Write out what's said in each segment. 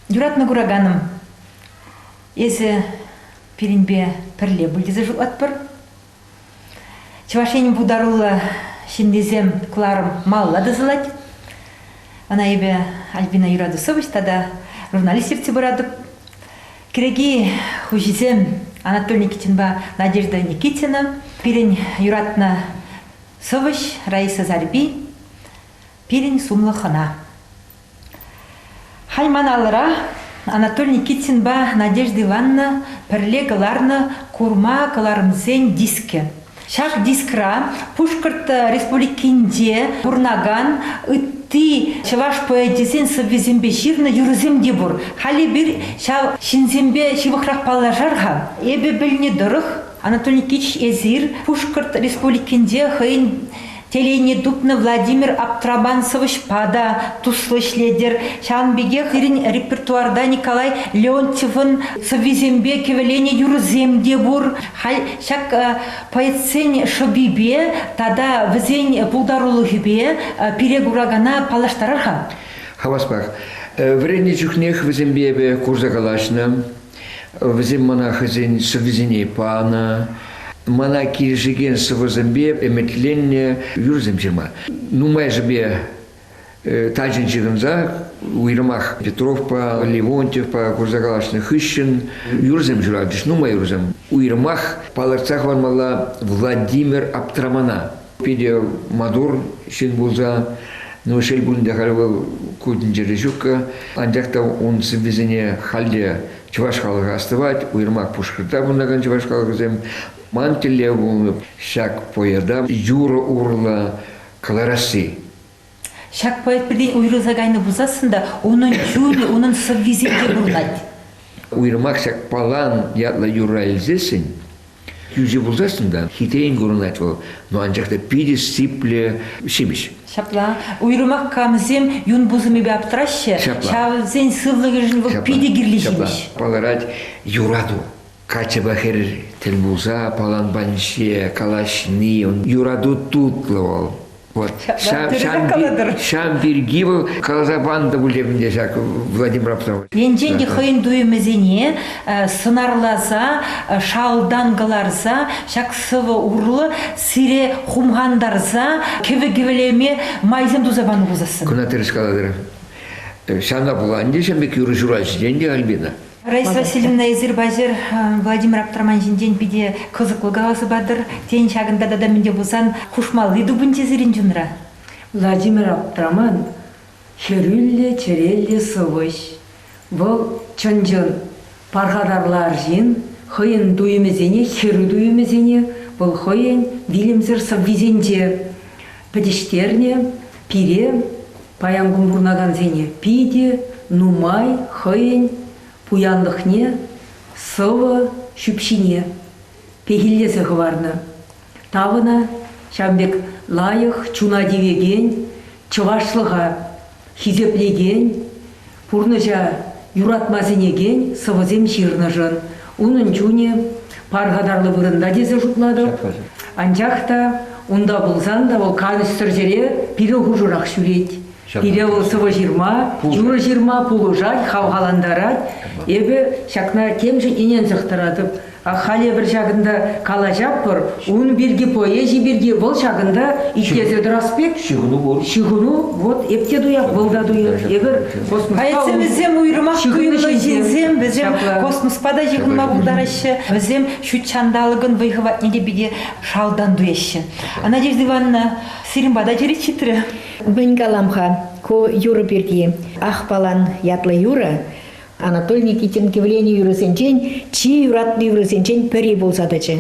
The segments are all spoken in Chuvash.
Юратнӑ кураканӑм, эсӗ пирӗнпе пӗрле пуль тесе шутлатпӑр. Чӑваш Енӗн пултаруллӑ ҫыннисем кӑларӑм малла тӑсӑлать. Ӑна эпӗ Альбина Юрадусович тата журналист ертсе пыратӑп. Кӗрӗки хуҫисем Анатолий Никитинпа Надежда Никитина, пирӗн юратнӑ сӑвӑҫ Раиса Зарипи, пирӗн сумлӑ хӑна. Халь ман алӑра Анатолий Никитинпа Надежда Ивановна пӗрле кӑларнӑ курма кӑларӑмсен дискӗ. Ҫак дискра Пушкӑрт Республикинче пурӑнакан ытти чӑваш поэчӗсен сӑввисемпе ҫырнӑ юрӑсем те пур. Халӗ эпир ҫав ҫынсемпе ҫывӑхрах паллашар-ха. Эпӗ пӗлни тӑрӑх, Анатолий Никитич эсир Пушкӑрт Республикинче хӑйӗн Телейне тупнӑ Владимир Аптрабан сӑвӑҫпа та туслӑ ӗҫлетӗр. Ҫавӑн пекех пирӗн репертуарта Николай Леонтьевӑн сӑввисемпе кӗвӗленӗ юрӑсем те пур. Халь ҫак поэтсен шӑпипе тата вӗсен пултарулӑхӗпе пире куракана паллаштарар-ха. Хаваспах. Вӗреннӗ чухнех вӗсемпе эпӗ курса калаҫнӑ. Вӗсем мана хӑйсен сӑввисене панӑ, мана килӗшекен сӑвӑсемпе ӗмӗтленнӗ юрӑсем ҫырма. Нумайӑшӗпе э, тачӑн ҫыхӑнса уйрӑмах Петровпа Левонтьевпа курса калаҫнӑ хыҫҫӑн юрӑсем ҫуратчӗҫ, нумай юрӑсем. Уйрӑмах палӑртса хӑвармалла Владимир Аптрамана. Питӗ маттур ҫын пулса. Ну, шел пулин те, халь вӑл ку тӗнчере ҫуккӑ. Анчах та ун сӑввисене халь те чӑваш халӑхӗ астӑвать. Уйрӑмах Пушкӑртра пурӑнакан чӑваш халӑхӗсем. Ман тӗллев пулнӑ ҫак поэта юрӑ урлӑ кӑларасси. Ҫак поэтпелен уйрӑлса кайнӑ пулсассӑн та унӑн чунӗ, унӑн сӑввисенче пурӑнать. Уйрӑмах ҫак Палан ятлӑ юрра илсессӗн, кӳрши пулсассӑн та хитрен курӑнать вӑл, но анчах та питӗ сиплӗ ҫимӗҫ. Ҫапла. Уйрӑмах камсем юн пусӑмӗпе аптраҫҫӗ, ҫавӑнсен сывлӑхӗшӗн вӑл питӗ кирлӗ ҫимӗҫ. Палӑрать юрату. Катьӑпа хӗр тӗл пулса паланпанҫе калаҫни, юрату тутлӑ вӑл. Вот ҫав, ҫав, ҫав пирки вӑл каласа панӑ пуль ӗнтӗ ҫак Владимир Аптрамович. Енчен те хӑйӗн туйӑмӗсене сӑнарласа, шалтан кӑларса, ҫак сӑвӑ урлӑ сире хумхантарса, кӗвӗ-кӗвӗлеме майсем туса панӑ пулсассӑн. Кӑна тӗрӗс калатӑр. Ҫавна пула ӗнтӗ ҫын пек юрӑ ҫураҫҫӗ те ӗнтӗ Альбина. Раиса Васильевна, эсир паҫӑр Владимир Аптраман ҫинчен питӗ кӑсӑклӑ каласа патӑр. Тен, ҫакӑнта тата мӗнте пулсан хушмалли тупӑнчӗ сирӗн чунра? Владимир Аптраман хӗрӳллӗ чӗреллӗ сӑвӑҫ. Вӑл чӑн-чӑн пархатарлӑ арҫын, хӑйӗн туйӑмӗсене, хӗрӳ туйӑмӗсене вӑл хӑйӗн вилӗмсӗр сӑввисенче пӗтӗҫтернӗ. Пире Паян кун пурӑнакансене питӗ нумай хӑйӗн пуянлӑхне, сӑвӑ ҫӳпҫине пехиллесе хӑварнӑ. Тавӑна ҫавӑн пек лайӑх чуна тивекен, чӑвашлӑха хисеплекен, Пурнӑҫа юратма сӗнекен сӑвӑсем ҫырнӑшӑн унӑн чунӗ пархатарлӑ вырӑнта тесе шутлатӑп. Анчах та унта пулсан та вӑл канӑҫсӑр ҫӗре пирӗн хушӑрах ҫӳрет. Пире вӑл сӑвӑ ҫырма, юрӑ ҫырма пулӑшать, хавхалантарать. Эпӗ ҫакна темшӗн ӗненсех тӑратӑп. Халь эпир ҫакӑнта калаҫатпӑр, ун пирки, поэзи пирки, вӑл ҫакӑнта итлесе тӑрас пек. Ҫыхӑну пур. Ҫыхӑну, вот эп те туяп, вӑл та туйӑ. Эпир космосра... Проектсем вӗсем уйрӑмах туйӑмлӑ ҫынсем, вӗсем космоспа та ҫыхӑнма пултараҫҫӗ, вӗсем ҫут ҫанталӑкӑн вӑй-хӑватне те питӗ шалтан туяҫҫӗ. Надежда Ивановна сирӗн пата черет ҫитрӗ. Мӗн калам-ха ку юрӑ пирки? Ахпалан ятлӑ юрӑ Анатолий Никитин кивленӗ юрӑсенчен, чи юратнӑ юрӑсенчен пӗри пулса тӑчӗ.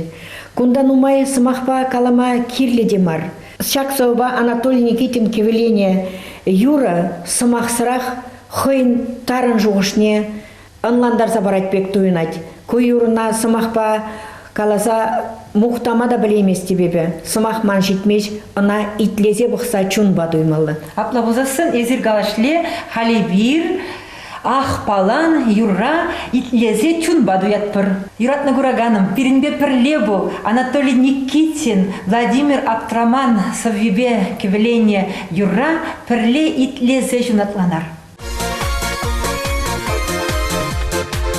Кунта нумай сӑмахпа калама кирлӗ те мар. Ҫак сӑвӑпа Анатолий Никитин кивлене юрӑ сӑмахсӑрах хӑйӗн тарӑн шухӑшне ӑнлантарса парать пек туйӑнать. Ку юрӑна сӑмахпа каласа мухтама та пӗлейместӗп эпӗ. Сӑмах ман ҫитмест, ӑна итлесе пӑхса чунпа туймалла. Апла пулсассӑн эсир калашле, халӗ эпир Ах, палан, юрра итлесе чунпа туятпӑр. Юратнӑ кураканӑм, пирӗнпе пӗрле пул. Анатолий Никитин, Владимир Аптраман сӑввипе кӗвӗленнӗ юрра пӗрле итлесе ҫунатланар.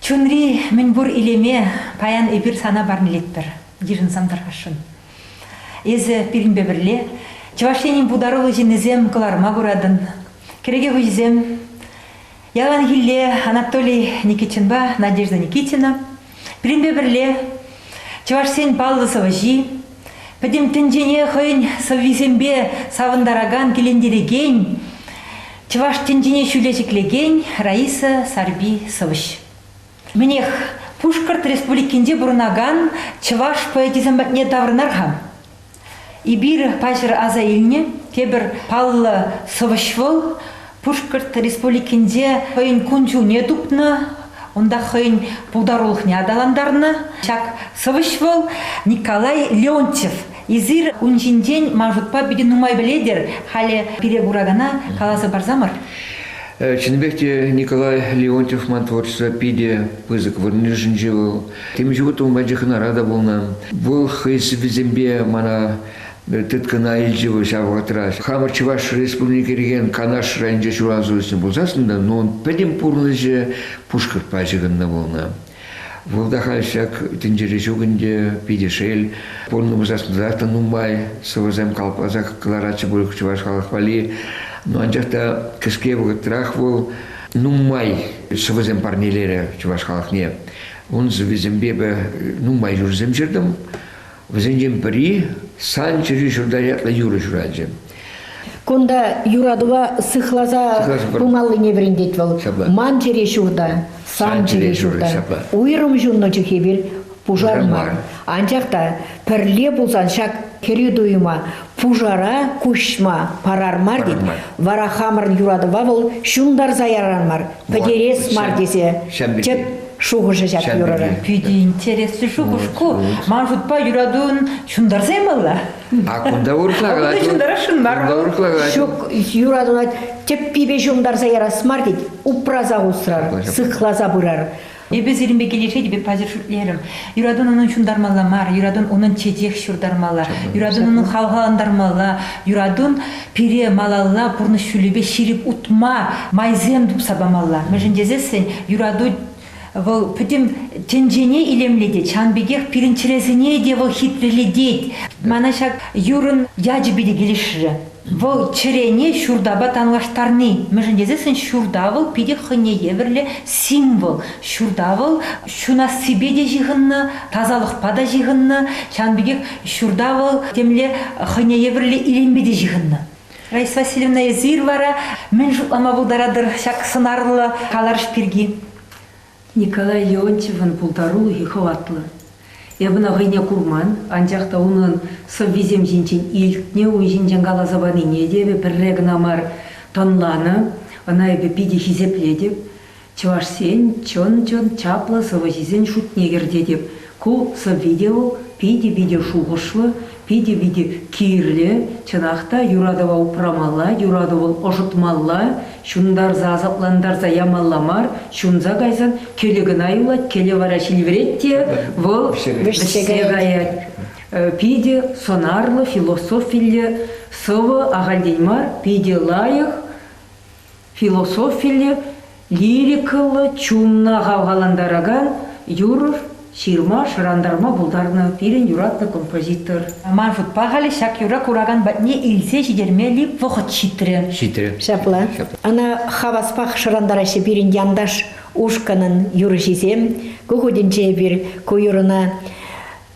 Чунри мӗнпур илеме паян эпир сана парнелетпӗр, йышӑнсан тархасшӑн. Эсӗ пирӗнпе пӗрле Чӑваш Енӗн пултаруллӑ ҫыннисем кӑларма пыратӑн. Кӗреке хуҫисем яланхилле Анатолий Никитинпа Надежда Никитина Пирӗнпе пӗрле чӑвашсен паллӑ сӑвӑҫи, пӗтӗм тӗнчене хӑйӗн сӑввисемпе савӑнтаракан, килентерекен, чӑваш тӗнчине ҫӳле ҫӗклекен Раиса Сарпи сӑвӑҫ. Мӗнех, Пушкӑрт Республикинче пурӑнакан чӑваш поэчӗсем патне таврӑнар-ха. Эпир паҫӑр аса илнӗ тепӗр паллӑ сӑвӑҫ вӑл Пушкӑрт Республикинче хӑйӗн кун-ҫулне тупнӑ, унта хӑйӗн пултарулӑхне аталантарнӑ. Ҫак сӑвӑҫ вӑл Николай Леонтьев. Эсир ун ҫинчен ман шутпа питӗ нумай пӗлетӗр. Халӗ пире куракана каласа парсамӑр. Чӑннипех те Николай Леонтьев ман творчество питӗ пысӑк вырӑн йышӑнчӗ. Вӑл Темӗн ҫук ун патне хӑнара та пулнӑ. Вӑл хӑй сӑввисемпе мана тыткӑна илчӗ вӑл ҫав вӑхӑтра. Хамӑр Чӑваш Республики кӗрекен Канаш районӗнче ҫуралса үснӗ пулсассӑн та, ну, ун пӗтӗм пурнӑҫӗ пушкӑртпа ҫыхӑннӑ пулнӑ. Вӑл та халь ҫак тӗнчере ҫук ӗнтӗ, питӗ шел. Пурӑннӑ пулсассӑн та нумай сӑвӑсем калӑпласа кӑларатчӗ пуль чӑваш халӑх валли. Но анчах та кӗске вӑхӑтрах вӑл нумай сӑвӑсем парнелерӗ чӑваш халӑхне. Ун сӑввисемпе эпӗ нумай юрсем ҫыртӑм. Вӗсенчен пӗри «Сан чӗри ҫурта» ятлӑ юрӑ ҫуралчӗ. Кунта юратӑва сыхласа пымаллине вӗрентет вӑл. Ман чӗри ҫурта, сан чӗри ҫурта. Уйрӑм ҫуннӑ чухне пушар мар. Анчах та пӗрле пулсан ҫак кӗрӳ туйӑма Пушара куҫма парар мар тет. Вара хамӑрӑн юратӑва вӑл ҫунтарса ярар мар, пӗтерес мар тесе тӗп шухӑшӗ ҫак юрӑра. Питӗ интереслӗ шухӑш ку. Ман шутпа юратун ҫунтарса ямалла. А кунта урӑхла калать. Кунта ҫунтарасшӑн мар. Кунта урӑхла калать. Ҫук, юратуна тӗппипе ҫунтарса ярас мар тет. Упраса усрар, сыхласа пырар. Эпӗ сирӗнпе килӗшетӗп, паҫӑр шӳтлерӗм. Юратун унӑн ҫунтармалла мар, юратун унӑн чечек ҫуртармалла, юратун унӑн хавхалантармалла, юратун пире малалла пурнӑҫ ҫулӗпе ҫирӗп утма майсем тупса памалла. Мӗншӗн тесессӗн юрату вӑл пӗтӗм тӗнчене илемлетет, ҫавӑн пекех пирӗн чӗресене те вӑл хитрелетет. Мана ҫак юрӑн ячӗпе те килӗшрӗ. Вӑл чӗрене ҫуртапа танлаштарни, мӗншӗн тесессӗн ҫурта вӑл питӗ хӑйне евӗрлӗ символ. Ҫурта вӑл ҫунассипе те ҫыхӑннӑ, тасалӑхпа та ҫыхӑннӑ, ҫавӑн пекех ҫурта вӑл темле хӑйне евӗрлӗ илемпе те ҫыхӑннӑ. Раиса Васильевна, эсир вара мӗн шутлама пултаратӑр ҫак сӑнарлӑ каларӑш пирки? Николай Леонтьевӑн пултарулӑхӗ хӑватлӑ. Эп ӑна хӑйне курман, анчах та унӑн сӑввисем ҫинчен илтнӗ, ун ҫинчен каласа панине те эпӗ пӗрре кӑна мар тӑнланӑ. Ӑна эпӗ питӗ хисеплетӗп. Чӑвашсен чӑн-чӑн чаплӑ сӑвӑҫисен шутне кӗртетӗп, Ку сӑвви-те вӑл питӗ-питӗ шухӑшлӑ, питӗ-питӗ кирлӗ. Чӑнах та, юратӑва упрамалла, юрату вӑл ӑшӑтмалла, ҫунтарса-асаплантарса ямалла мар, ҫунса кайсан кӗлӗ кӑна юлать, кӗлӗ вара ҫилверет те вӑл вӗҫсе каять. Питӗ сӑнарлӑ, философиллӗ сӑвӑ, ахальтен мар, питӗ лайӑх. Философиллӗ, лирикӑллӑ, чунна хавхалантаракан юрӑ ҫырма-шӑрантарма пултарнӑ пирӗн юратнӑ композитор. Ман шутпа халӗ ҫак юрра куракан патне илсе ҫитермелли вӑхӑт ҫитрӗ. Ҫитрӗ. Ҫапла. Ӑна хаваспах шӑрантараҫҫӗ пирӗн янташ ушкӑнӑн юрӑҫисем. Ку хутӗнче эпир ку юрӑна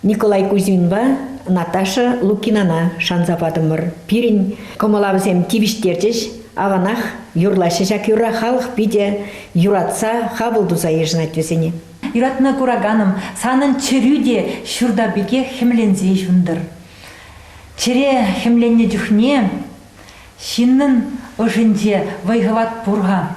Николай Кузьминпа Наташа Лукинана шанса патӑмӑр. Пирӗн кӑмӑлавсем тивӗҫтерчӗҫ. Аванах юрлаҫҫӗ ҫак юрра. Халӑх питӗ юратса, хапӑл туса йышӑнать вӗсене. Юратма кураканӑм, санӑн чӗрӳ те ҫурта пекех хӗмленсе ҫунтӑр. Чӗре хӗмленнӗ чухне ҫыннӑн ӑшӗнче вӑй-хӑват пур-ха.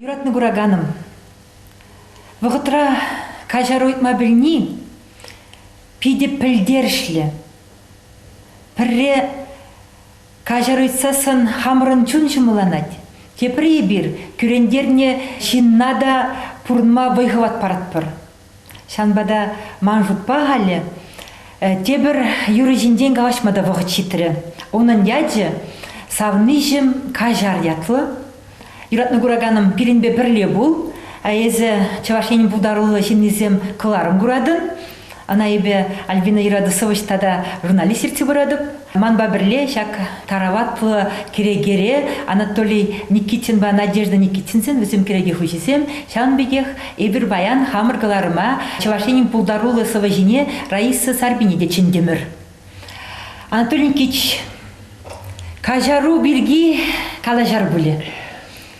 Юратнӑ кураканӑм, вӑхӑтра каҫару ыйтма пӗлни питӗ пӗлтерӗшлӗ. Пӗрре Каҫар ыйтсассӑн хамӑрӑн чун ҫӑмӑлланать. Тепри эпир кӳрентернӗ ҫынна та пурӑнма вӑй-хӑват паратпӑр. Ҫавӑнпа та ман шутпа халӗ тепӗр юрӑ ҫинчен калаҫма та вӑхӑт ҫитрӗ. Унӑн ячӗ «Савниҫӗм каҫар» ятлӑ. Юратнӑ кураканӑм, пирӗнпе пӗрле пул. Эсӗ Чӑваш Ен пултаруллӑ ҫыннисем кӑларӑм куратӑн. Ӑна эпӗ Альбина Юратусович тата журналист ертсе пыратӑп. Манпа пӗрле ҫак тараватлӑ кӗрекере Анатолий Никитинпа Надежда Никитинсен вӗсем кӗреке хуҫисем, ҫавӑн пекех эпир паян хамӑр кӑларӑма Чӑваш Енӗн пултаруллӑ сӑвӑҫине Раиса Сарпине те чӗнтӗмӗр. Анатолий Никитич, каҫару пирки калаҫар пулӗ.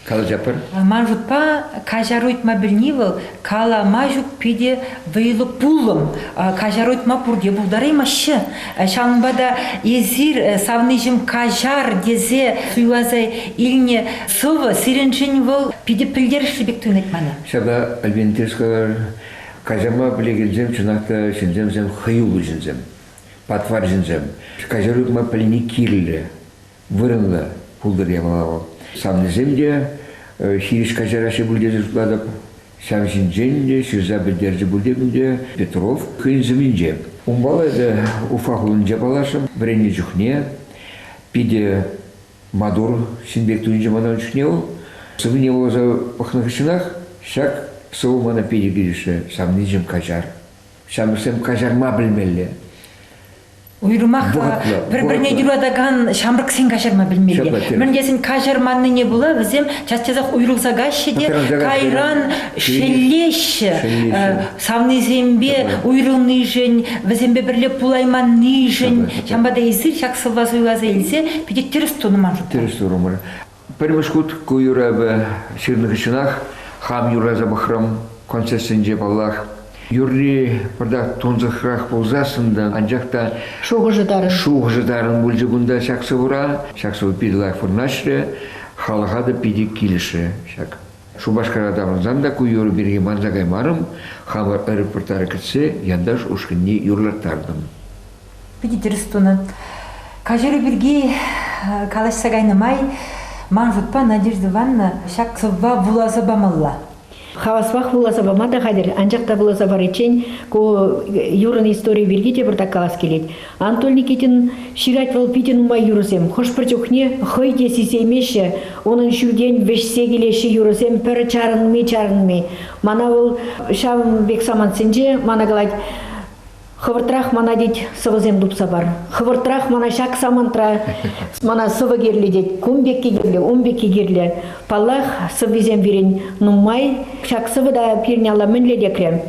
Калаҫатпӑр. Ман шутпа, каҫару ыйтма пӗлни вӑл калама ҫук питӗ вӑйлӑ пулӑм. Каҫару ыйтма пурте пултараймаҫҫӗ. Ҫавӑнпа та эсир э, савниҫӗм каҫар тесе суйласа илнӗ сӑвӑ сирӗншӗн вӑл питӗ пӗлтерӗшлӗ пек туйӑнать мана. Ҫапла, Альбин, тӗрӗс калар. Каҫарма пӗлекенсем чӑнах та ҫынсемсем хӑюллӑ ҫынсем, патвар ҫынсем. Каҫару тупма пӗлни кирлӗ, вырӑнлӑ пултӑр ямала вӑл. Савнисем те хирӗҫ каҫараҫҫӗ пуль тесе шутлатӑп. Ҫав ҫинчен те ҫырса пӗлтерчӗ пуль тетӗн те Петров хӑйӗн сӑввинче. Унпала эпӗ Уфа хулинче паллашрӑм вӗреннӗ чухне. Питӗ Маттур ҫын пек туйӑнчӗ мана ун чухне вӑл. Сӑвине вуласа пӑхнӑ хыҫҫӑнах ҫак сӑвӑ мана питӗ килӗшрӗ. Савничӗм каҫар. Ҫамрӑксем каҫарма пӗлмелле. Уйрӑмах пӗр-пӗрне юратакан ҫамрӑксен каҫарма пӗлмелле. Мӗн тесен каҫарманнине пула вӗсем час-часах уйрӑлса каҫҫӗ те кайран шеллеҫҫӗ. савнисемпе уйрӑлнишӗн, вӗсемпе пӗрле пулайманнишӗн, ҫавӑнпа та эсир ҫак сӑвва суйласа илсе питӗ тӗрӗс тунӑ ман шутпа. Тӗрӗс турӑмӑр. Пӗрмӗш хут ку юрӑпа ҫырнӑ хыҫҫӑнах хам юрласа пӑхрӑм концертсенче паллах. Юрри пӗртак тунсӑхрах пулсассӑн та, анчах та шухӑшӗ тарӑн шухӑшӗ тарӑн пулчӗ кунта ҫак сӑвӑра. Ҫак сӑвӑ питӗ лайӑх вырнаҫрӗ, халӑха та питӗ килӗшрӗ ҫак. Шупашкара таврӑнсан та ку юрӑ пирки манса каймарӑм, хамӑр аэропорта кӗтсе Янташ ушкӑнне юрлаттартӑм. Питӗ тӗрӗс тунӑ. Каҫару пирки калаҫса кайнӑ май ман шутпа Надежда Ивановна ҫак сӑвва вуласа памалла. Хаваспах вуласа пама та хатӗр, анчах та вуласа париччен ку юрӑн историйӗ пирки те пӑртак калас килет. Анатолий Никитин ҫырать вӑл питӗ нумай юрӑсем. Хӑш-пӗр чухне хӑй те сисеймеҫҫӗ унӑн ҫӳлтен вӗҫсе килеҫҫӗ юрӑсем пӗр чарӑнми чарӑнми. Мана вӑл ҫав пек самантсенче мана калать хӑвӑртрах мана тет сӑвӑсем тупса пар. Хӑвӑртрах мана ҫак самантра мана сӑвӑ кирлӗ тет. Кун пекки кирлӗ, ун пекки кирлӗ. Паллах, сӑввисем пирӗн нумай. Ҫак сӑвӑ та пирӗн алла мӗнле текре?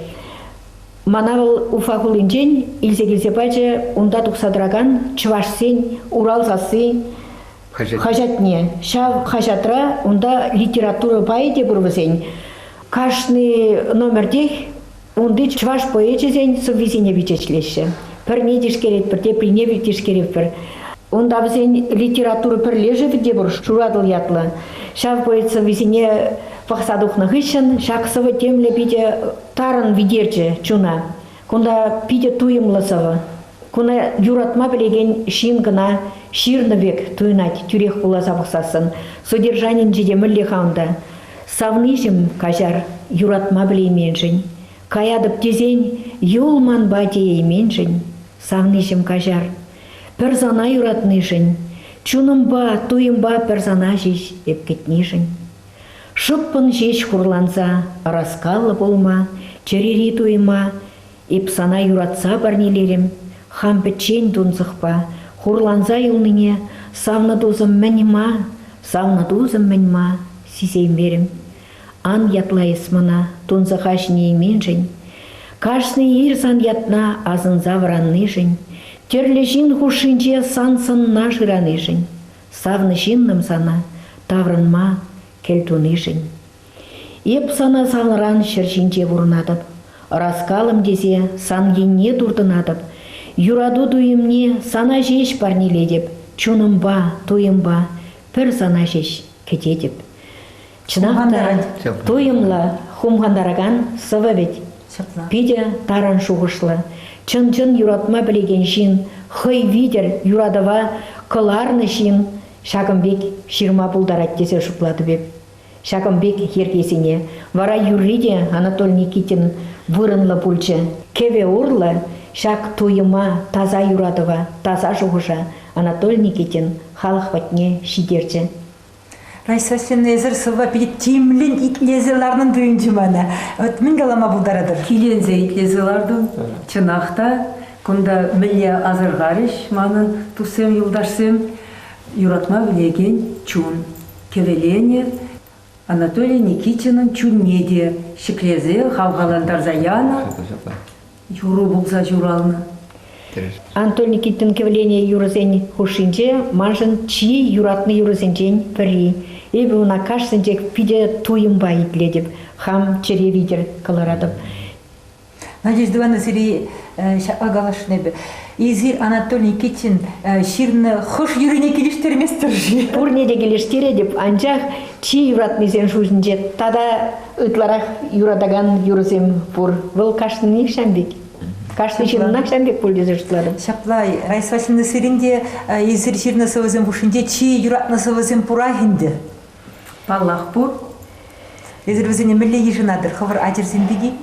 Мана вӑл Уфа хулинчен илсе килсе пачӗ унта тухса тӑракан чӑвашсен Урал сасси хаҫатне. Ҫав хаҫатра унта литература пайӗ те пур вӗсен. Кашни номертех унти чӑваш поэчӗсен сӑввисене пичетлеҫҫӗ. Пӗрне тишкеретпӗр, теприне тишкеретпӗр. Унта вӗсен литература пӗрлешӗвӗ те пур Шуратӑл ятлӑ. Ҫав поэт сӑввисене пӑхса тухнӑ хыҫҫӑн ҫак сӑвӑ темле питӗ Тарӑн витерчӗ чуна. Кунта питӗ туйӑмлӑ сӑвӑ. Куна юратма пӗлекен ҫын кӑна ҫырнӑ пек туйӑнать тӳрех вуласа пӑхсассӑн. Содержанинче те мӗнле-ха унта? Савниҫӗм каҫар юратма пӗлейменшӗн. Каятӑп тесен юл манпа теейменшӗн. Савниҫӗм каҫар пӗр сана юратнишӗн. Чунӑмпа, туйӑмпа пӗр сана ҫеҫ эп кӗтнишӗн. Шӑппӑн ҫеҫ хурланса, ӑраскаллӑ пулма, чӗрири туйӑма эп сана юратса парнелерӗм, хам пӗччен тунсӑхпа хурланса юлнине савнӑ тусӑм-мӗн ма, савнӑ тусӑм-мӗн ма сисеймерӗм. Ан ятла эс мана тунсӑха ҫӗнейменшӗн, кашни ир сан ятна асӑнса вӑраннишӗн, тӗрлӗ ҫын хушшинче сан сӑнна шыранишӗн. Савнӑ ҫыннӑм сана таврӑнма кӗл тунишӗн. Эп сана санран ҫӗр ҫинче пурӑнатӑп, ӑраскалӑм тесе сан енне туртӑнатӑп, юрату туйӑмне сана ҫеҫ парнелетӗп, чунӑмпа, туйӑмпа пӗр сана ҫеҫ кӗтетӗп. Чӑнах та туйӑмлӑ, хумхантаракан сӑвӑ вӗт. Питӗ тарӑн шухӑшлӑ, чӑн-чӑн юратма пӗлекен ҫын, хӑй витӗр юратӑва кӑларнӑ ҫын ҫакӑн пек ҫырма пултарать тесе шутлатӑп эп. Ҫакӑн пек йӗркесене вара юрри те Анатолий Никитин вырӑнлӑ пулчӗ. Кӗвӗ урлӑ ҫак туйӑма, таса юратӑва, таса шухӑша Анатолий Никитин халӑх патне ҫитерчӗ. Райсассин эсир сывӑ питӗ тимлӗн итлесе ларнӑн туйӑнчӗ мана. Вот мӗн калама пултаратӑр? Киленсе итлесе лартӑм. Чӑнах та, кунта мӗнле асӑрхарӗҫ манӑн туссем, юлташсем? Юратма пӗлекен чун кӗвӗленӗ. Анатолий Никитинӑн чунне те ҫӗклесе хавхалантарса янӑ. юрӑ пулса ҫуралнӑ. Анатолий Никитин кӗвлене юрӑсен хушшинче маншӑн чи юратнӑ юрӑсенчен пӗри. Эпӗ ӑна кашсенчех питӗ туйӑмпа итлетӗп, хам чӗре витӗр кӑларатӑп. Надежда Ивановна сире ҫапла калашлла эпӗ. Эсир Анатолий Никитин ҫырнӑ хӑш юррине килӗштерместӗр-ши? Пурне те килӗштеретӗп, анчах чи юратнисен шутӗнче тата ытларах юратакан юрӑсем пур. Вӑл кашнинех ҫавӑн пек. Кашни ҫыннах ҫавӑн пек пуль тесе шутларӑм. Ҫапла, Раиса Васильевна сирӗн те эсир ҫырнӑ сӑвӑсем хушшинче чи юратнӑ сӑвӑсем пурах ӗнтӗ. Паллах, пур. Эсир вӗсене мӗнле йышӑнатӑр хӑвӑр ачӑрсем пирки?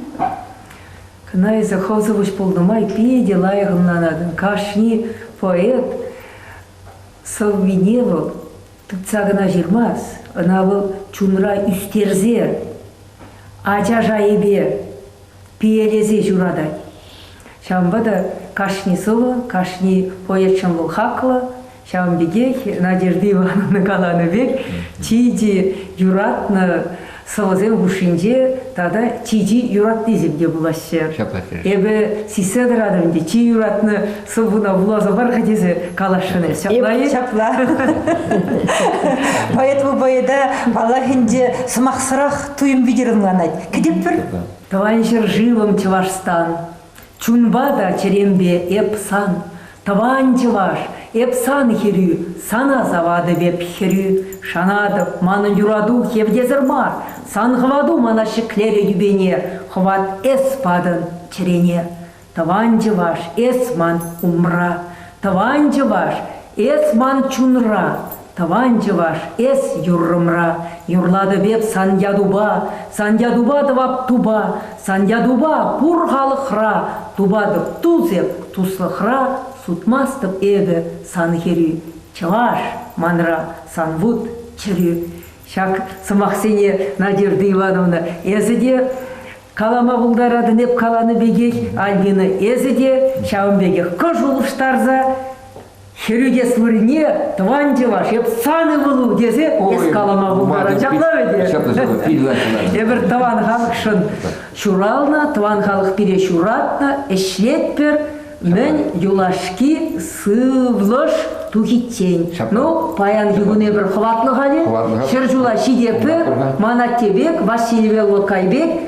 Кӑна эсӗ хӑв сӑвӑҫ пулнӑ май питӗ лайӑх ӑнланатӑн. Кашни поэт сӑввине вӑл Тытса кӑна ҫырмасть, ӑна вӑл чунра ӳстерсе, ача шайӗпе пиелесе ҫуратать. Ҫавӑнпа та кашни сӑвӑ, кашни поэтшӑн вӑл хаклӑ. Ҫавӑн пекех Надежда Ивановна каланӑ пек чи-чи юратнӑ сӑвӑсем хушшинче тата чи-чи юратнисем те пулаҫҫӗ. Эпӗ сиссе тӑратӑп ӗнтӗ, чи юратнӑ сӑввуна вуласа пар-ха тесе каласшӑн эс ҫапла-и? Ҫапла. Поэтому поэта паллах ӗнтӗ сӑмахсӑрах туйӑм витӗр ӑнланать. Кӗтӗпӗр. Тӑван ҫӗршывӑм Чӑвашстан, Чунпа та чӗремпе эп сан, тӑван чӑваш, эп сан хӗрӳ, сана саватӑп эп хӗрӳ, шанатӑп, манӑн юрату хевтесӗр мар, сан хӑвату мана ҫӗклерӗ тӳпене, хӑват эс патӑн чӗрене. Тӑван чӑваш, эс ман умра, тӑван чӑваш, эс ман чунра, Тӑван чӑваш, эс юррӑмра юрлатӑп эп сан ятупа, сан ятупа тӑвап тупа, сан ятупа пур халӑхра, тупатӑп тус эп туслӑхра, сутмастӑп эпӗ сан хӗрӳ. Чӑваш манра сан вут чӗрӳ. Ҫак сӑмахсене Надежда Ивановна эсӗ те калама пултаратӑн эп каланӑ пекех, Альбина эсӗ те ҫавӑн пекех кӑш улӑштарса Хӗретес вырӑнне тӑван чӑваш, эп сан ывӑлу тесе эс калама пултарать. Ҫапла вӗт? Ҫапла, ҫапла. Эпир тӑван халӑхшӑн ҫуралнӑ, тӑван халӑх пире ҫуратнӑ, ӗҫлетпӗр. Мӗн юлашки сывлӑш тухиччен. Ну, паянхи кун эпир хӑватлӑ халӗ. Хӗр ҫула ҫитетпӗр. Ман атте пек, Василий велло кайпек,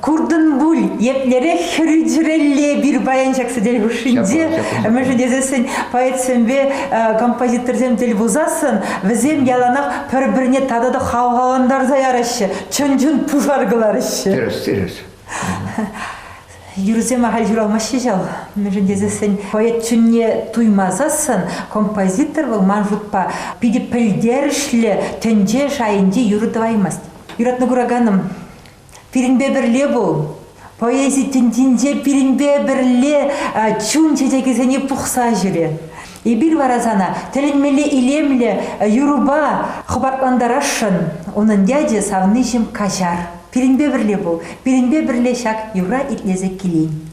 Куртӑн пуль, еплерех хӗрӳчӗрелле пир паян ҫак сӗтел хушшинче мӗшӗн тесессӗн поэтсемпе э, композиторсем тӗл пулсассӑн вӗсем яланах пӗр-пӗрне тата та хавхалантарса яраҫҫӗ, чӑн-чӑн пушар кӑлараҫҫӗ. Тӗрӗс, тӗрӗс. Юрӑсем ахаль ҫуралмаҫҫӗ ҫав. Мӗншӗн тесессӗн поэт чунне туймасассӑн композитор вӑл ман шутпа питӗ пӗлтерӗшлӗ тӗнче шайӗнче юрӑ тӑваймасть. Юратнӑ кураканӑм, Пирӗнпе пӗрле пул. Поэзи тӗнчинче пирӗнпе пӗрле чун чечекӗсене пухса ҫӳре. Эпир вара сана тӗлӗнмелле илемлӗ юрӑпа хӑпартлантарасшӑн. Унӑн ячӗ савниҫӗм каҫар. Пирӗнпе пӗрле пул, пирӗнпе пӗрле ҫак юрра итлесе килен.